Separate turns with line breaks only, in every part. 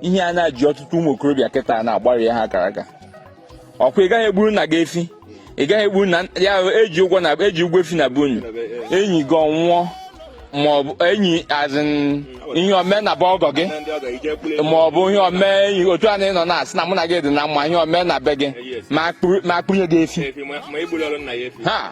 ihe a na-eji ọtụtụ ụmụ okorobịa kịta na-agbari ha akara aka ọkwa ị gaghị egburu nna gị efi ị gaghị egburu nna ya eji ụgwọ efi na be unu enyi gị anwụọ ma ọ bụ enyi as in ihe o mee na be ọgọ gị ma ọ bụ ihe o mee enyi otu a na ị nọ na-asị na mụ na gị dị na mma ihe o mee na be gị m akpụnye gị efi ha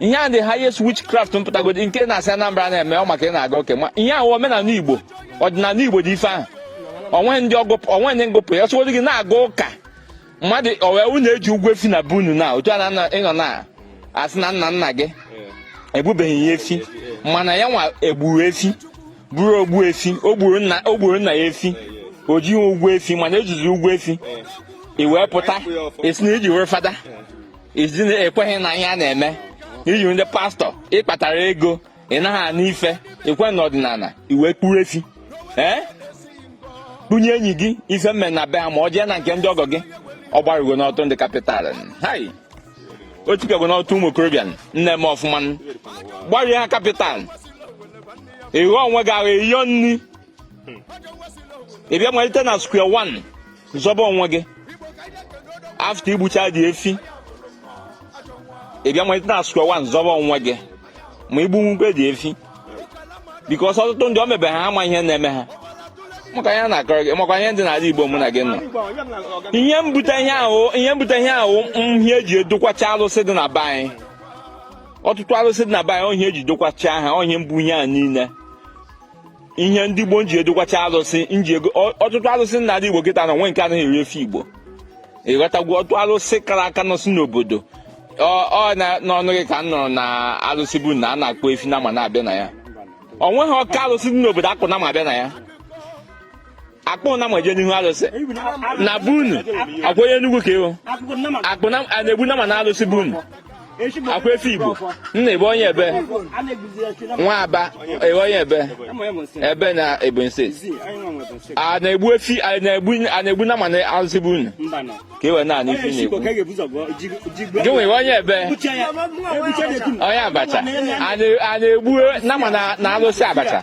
ihe a the highest witchcraft mpụtagodi nke na-asị Anambra na-eme ọ maka ị na-aga ụka ma ihe ahụ omenala Igbo ọdịnala Igbo dị ife ahụ o nwe ndị ngụpụ ya sịgodi gị na-aga ụka mmadụ owe unu eji ụgwọ efi na be unu na otu a na ị nọ na asị na nna nna gị egbubeghị ya efi mana ya nwa egburu efi bụrụ ogbuefi o gburu nna ya efi o jighị ụgwọ efi mana ejizi ụgwọ efi i wee pụta esi na iji were fada as in i kweghị na ihe a na-eme iji ndị pastor ịkpatara ego ị naghị anụ ife i kwe n'ọdịnala i wee kpụrụ efi ee kpụnye enyi gị ife mme na be ha ma ọ jee na nke ndị ọgọ gị ọ gbarigonụ ọtụtụ ndị capital hai o tikagonụ ọtụtụ ụmụ okorobịa na-eme ọfụma gbarie ha capital ịghọ onwe gị ahụ eyiyo nri ị bịa malite na square one zọba onwe gị after igbucha the efi ị bịa malite na square one zọba onwe gị ma i gbunwukwe the efi because ọtụtụ ndị o mebe ha ama ihe na-eme ha maka ihe na-akọrọ gị maka ihe dị n'ala Igbo mụ na gị nọ ihe mbute ihe ahụ ihe eji edokwacha alụsị dị na be anyị ọtụtụ alụsị dị na be anyị ọ ihe eji dokwacha ha ọ ihe mbụ ihe a niile ihe ndị Igbo nji edokwacha alụsị ọtụtụ alụsị na ndị Igbo kịta na o nwe nke anaghị eri efi Igbo ịghọtagwo ọtụtụ alụsị kara aka nọsị n'obodo ọ n'ọnụ gị ka m nụrụ na alụsị be unu a na-akpụ efi nama na-abịa na ya o nweghị ọka alụsị dị n'obodo akpụ nama abịa na ya akpụ nama eje n'ihu alụsị na be unu ọkwa onye Enugu ka ị bụ ọ bụ na a na-egbu nama na alụsị be unu ọkwa efi Igbo nna ebe onye ebe nwa Aba ebe onye ebe ebe na Ebonyi State a na-egbu efi a na-egbu nama na alụsị be unu ka e wee na-anụ ifi na-egbu gị nwere onye ebe onye Abacha a na-egbu nama na alụsị Abacha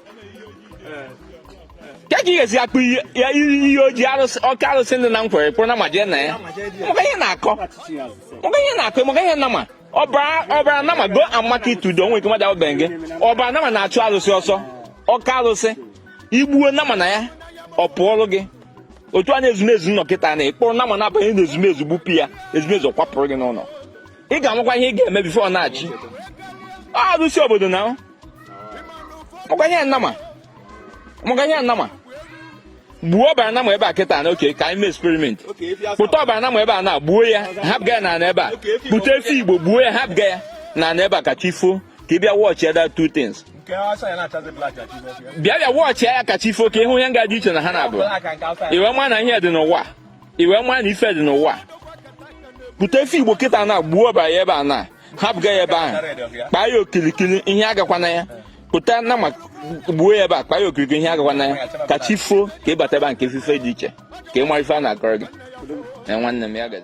ka ka ị ga-esi akpụ ya iri ihe ojii arụsị ọka arụsị dị na Nkwere kpụrụ nama eje na ya maka ihe na-akọ maka ihe na-akọ maka ihe nama ọbara nama go amaka itudo onwe ike mmadụ ahụbeghị gị ọbara nama na-achụ arụsị ọsọ ọka arụsị igbuo nama na ya ọ pụọrụ gị otu a na ezumezu nọ kịta na ị kpụrụ nama na-abanye na ezumezu gbupụ ya ezumezu kwapụrụ gị n'ụlọ ị ga-amakwa ihe ị ga-eme before ọ na-achị arụsị obodo na makwa ihe nama makwa ihe nama gbuo ọbara nama ebe a kịta na okay ka anyị mee experiment kpụta ọbara nama ebe a na gbuo ya hapụga ya na ana ebe a kpụta efi Igbo gbuo ya hapụga ya na ana ebe a ka chi foo ka ị bịa watch ya the two things bịa bịa watch ya ka chi foo ka ị hụ ihe nga dị iche na ha na-abụ i wee ma na ihe dị n'ụwa i wee maa na ife dị n'ụwa kpụta efi Igbo kịta na gbuo ọbara ya ebe a na hapụga ya ebe ahụ kpaa ya okirikiri ihe agakwana ya kpụta nama gbuo ya ebe a kpaa ya okirikiri ihe agakwana ya ka chi foo ka ị bata ebe a ka ị fụ ife dị iche ka ị mara ife a na-akọrọ gị na nwanne m ya gazi